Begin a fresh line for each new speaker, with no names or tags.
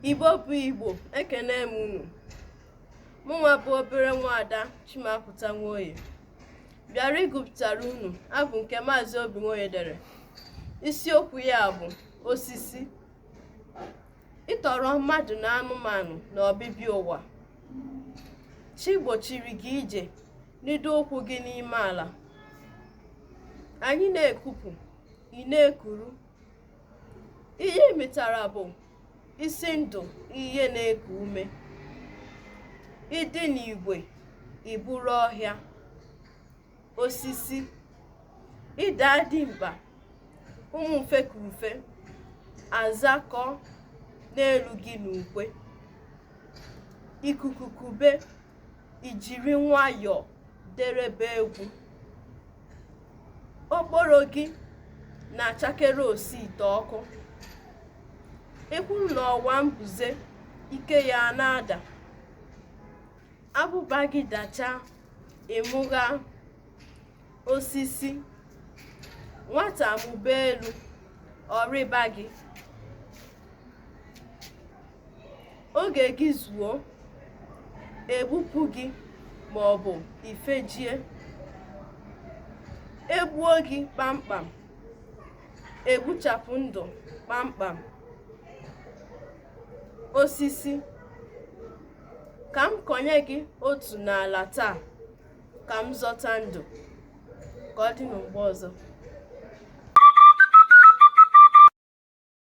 Igbo bụ Igbo, ekene m unu. Mụnwa bụ obere nwaada Chimapụta Nwoye. Bịara ịgụpụtara unu abụ nke Maazị Obi Nwoye dere. Isiokwu ya bụ osisi. Ị tọrọ mmadụ na anụmanụ na ọbịbịa ụwa. Chi gbochiri gị ije n'ido ụkwụ gị n'ime ala. Anyị na-ekupụ, ị na-ekuru, ihe ị mịtara bụ isi ndụ ihe na-eku ume ị dị n'igwe ị bụrụ ọhịa osisi ị daa dimkpa ụmụ mfe ka ufe azakọọ n'elu gị n'ukwe ikuku kube i jiri nwayọọ derebe egwu okporo gị na-achakere osi ite ọkụ ị kwụrụ n'ọwa mbuze ike ya na-ada abụba gị dachaa ị mụgha osisi nwata mụba elu ọ rịba gị oge gị zuo e gbupụ gị ma ọ bụ i fejie e gbuo gị kpamkpam e gbuchapụ ndụ kpamkpam osisi ka m kọnye gị otu n'ala taa ka m zọta ndụ ka ọ dị mgbe ọzọ